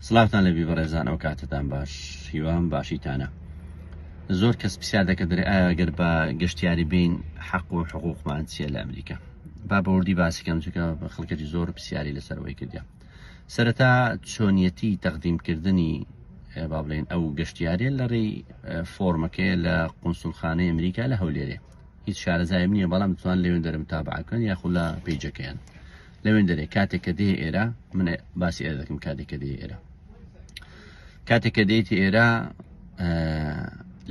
سڵاوتان لەبی بەڕێزان ئەو کاتتان باش هیوام باشیتانە زۆر کەس پرسیار دەکە دەێ ئاگەر بە گەشتیاری بین حەق و حقوقمان چیە لە ئەمریکا با بەوردی باسیکەم چکە بە خەڵکەتی زۆر پرسیاری لەسەرەوەی کردیا سەرەتا چۆنیەتی تەقدیمکردنی با بڵێن ئەو گەشتیارێ لە ڕێی فۆرمەکەی لە قونسولخانەی ئەمریکا لە هەولێرێ هیچ شارەزایم نییە بەڵام توان لەوێن دەرم تابعکەن یاخود لە پیجەکەیان لەوێن دەرێ کاتێک کە دێ ئێرە من باسی ئێرە دەکەم کاتێک کە دێ ئێرە کاتێک کە دێتی ئێرە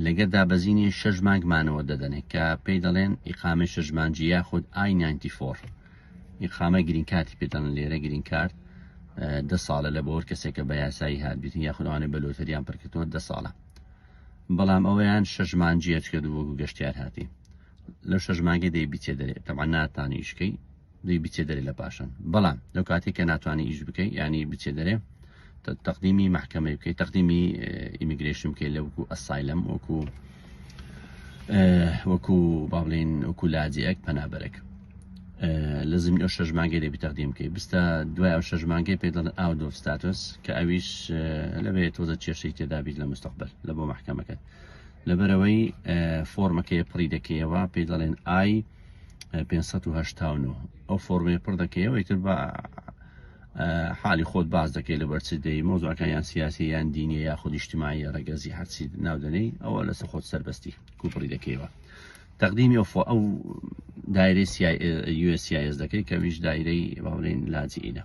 لەگەر دابەزینی شەش مانگمانەوە دەدەنێت کە پێی دەڵێن ئیقامە شەژمانجی یاخود I94 ئیقامە گرین کاتی پێدەن لێرە گرین کارت دە ساڵە لە بۆر کەسێکە بە یاسایی هابیت یاخودوانێ بە لۆتەریان پرکردوە دە ساڵە بەڵام ئەویان شەژمانجیەچکە دووەگو گەشتیار هاتی لەو شەژمانگە دەی بیچێ دەرێت تەمان ناتانیشکەی دوی بچێ دەرێ لە پاشان بەڵام لەو کاتێک کە ناتوانانی ئیش بکەیت ینی بچێ دەرێ تەقدیمی محکەمە بکەیت تەقدیمی ئیمیگرشن بکەیت لە وەکو ئەسایلم وەکو وەکو با بڵین وەکو لاجەک پەنابەرێک لە زمین ئەو شەش مانگەی دەبی تەقدیم بکەیت بستە دوای ئەو شەش مانگەی پێ دەڵن ئاو دۆ ستاتۆس کە ئەویش لەبێت تۆزە کێشەی تێدابیت لە مستەقبل لە بۆ محکەمەکەت لەبەرەوەی فۆرمەکەی پڕی دەکەیەوە پێ دەڵێن ئای 589 ئەو فۆرمێ پڕ دەکەیەوەی تر بە حالی خۆت باز دەکەی لە بەرچ دەی مۆزاکە یان سیاسی یان دینی یا خودیشتمایی ڕگەزی هەرچی ناودنەی ئەوە لەسە خۆت سەربەستی کوپڕی دەکەیەوە تەقدیمی ئەو فۆ ئەو دایرەی یوسیس دەکەی کەویش دایرەی باڵێن لاجیینە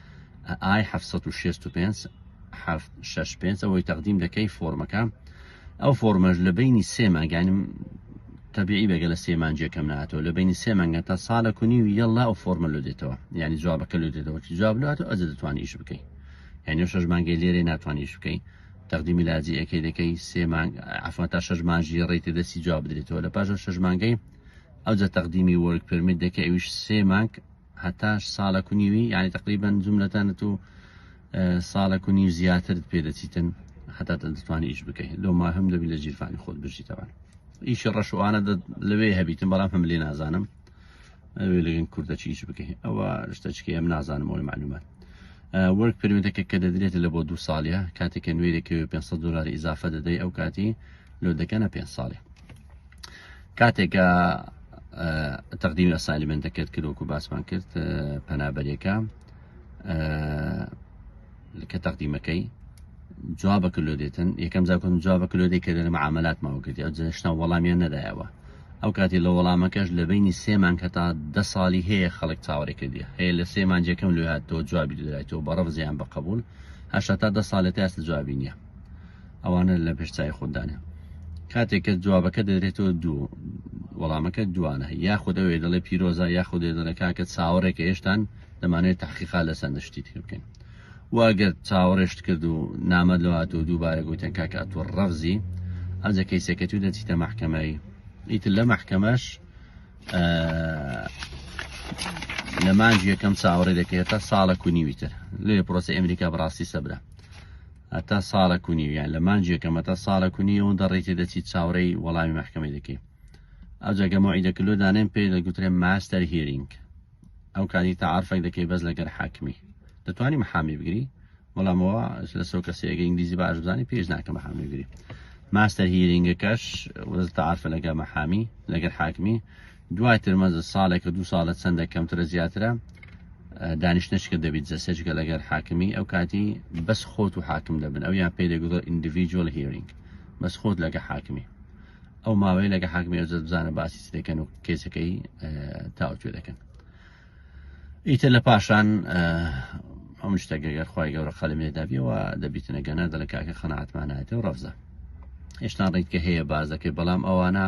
ئای حەفت سەد و شێست و پێنج حەفت شەش پێنج ئەوەی تەقدیم دەکەی فۆرمەکە ئەو فۆرمەش لە بینی سێ مانگانم تەبیعی بەگە لە سێ مانجێکەم ناتەوە لە بینی سێ مانگە تا ساڵە کونی و یەڵا ئەو فۆرمە لۆ دێتەوە یعنی جوابەکە لۆ دێتەوە چی جواب لات و ئەجە دەتوانانی ئیش بکەی یعنی شەش مانگی لێرە ناتوانانی ئیش بکەی تەقدیمی لاجی ئەکەی دەکەی سێ مانگ عفوا تا شەش مانجی ڕێتی دەستی جواب بدرێتەوە لە پاش شەش مانگەی ئەوجە تەقدیمی وەرگ پرمت دەکە ئەویش سێ مانگ هەتا ساڵەک و نیوی یعنی تقریبان جملەتانت و ساڵەک و نیو زیاترت پێ دەچیتن هەتا دەتوانانی ئیش بکەیت لۆ ما هەم دەبی لە جیرفانی خۆت بژیتەوە ئیشی ڕەشوانە لەوێ هەبیتم بەڵام هەم لێ نازانم ئەوێ لەگەن کوردە چیش بکەین ئەوە شتەچکە ئەم نازانم ئەوی معلومات وەرک پرمێتەکە کە دەدرێتە لە بۆ دو ساڵە کاتێکە نوێرەکەوێ 500 دلار ئیزافە دەدەی ئەو کاتی لۆ دەکەنە پێ ساڵێ کاتێکە تەقدیمی ئەسالیمنتەکەت کردوەکو باسمان کرد پەنابەرێکە کە تەقدیمەکەی جوابە کللو دێتن یەکەم زاکم جوابە کللو دەی کە دەرم عملات ماوە کردی ئەو جشنا وەڵامیان نەدایەوە ئەو کاتی لە وەڵامەکەش لە بینی سێمان کە تا دە ساڵی هەیە خەڵک چاوەڕێ کردی هەیە لە سێمان جەکەم لێ هاتەوە جوابی دەدایەوە بەڕەف زیان بە قبول هەشتا تا دە ساڵێت ئاستا جوابی نیە ئەوانە لە پێش چای خۆدانە کاتێک کە جوابەکە دەدرێتەوە دوو وەڵامەکە دوانە یاخود ئەوێ دەڵێ پیرۆزە یاخود دەڵێ کاکە چاوەڕێکە هێشتان دەمانێت تحقیقا لە سند شتی تر بکەین واگەر چاوەڕێشت کرد و نامە لەوات و دووبارە گوتیان کاکە ئەتوە ڕەفزی ئەجە کەیسەکە تو دەچیتە محکەمەی ئیتر لە محکەمەش لە مانج یەکەم چاوەڕێ دەکرێت تا ساڵە کونیویتر لێ پرۆسی ئەمریکا بڕاستی سەبرە هەتا ساڵێک و نیو یان لە مانگێکە مەتا ساڵێک و نیو ئەوەندە ڕێی تێدەچیت چاوەڕێی وەڵامی مەحکەمەی دەکەی ئەوجا گە مەوعیدەکە لۆ دانێن پێی دەگوترێن ماستەر هیرینگ ئەو کاتی تەعارفێک دەکەی بەس لەگەر حاکمی دەتوانی محامی بگری بەڵام ئەوە لەسەر کەسێگە ئینگلیزی باش بزانانی پێش ناکە محامی بگری ماستەر هیرینگەکەش وەز تەعارفە لەگە محامی لەگەر حاکمی دوای ترمەزە ساڵێکە دوو ساڵە چەندە کەمترە زیاترە دانیشتنشکە دەبیت جە سەجگە لەگەر حاکمی ئەو کاتی بەس خۆت و حاکم دەبن ئەو یان پێ دەگوڵ ئینڈیڤجوەل هیرینگ بەس خۆت لەگە حاکمی ئەو ماوەی لەگە حاکمی ئەو بزانە باسی دەکەن و کێسەکەی تاوتێ دەکەن ئیتر لە پاشان ئەم شتەگەگەر خی گەورە قەلمێدابیەوە دەبیتنە گەنە دەلکاکە خەناتمانایەتە و ڕەفزە هێشتان ڕیتکە هەیە باز دەکەێت بەڵام ئەوانە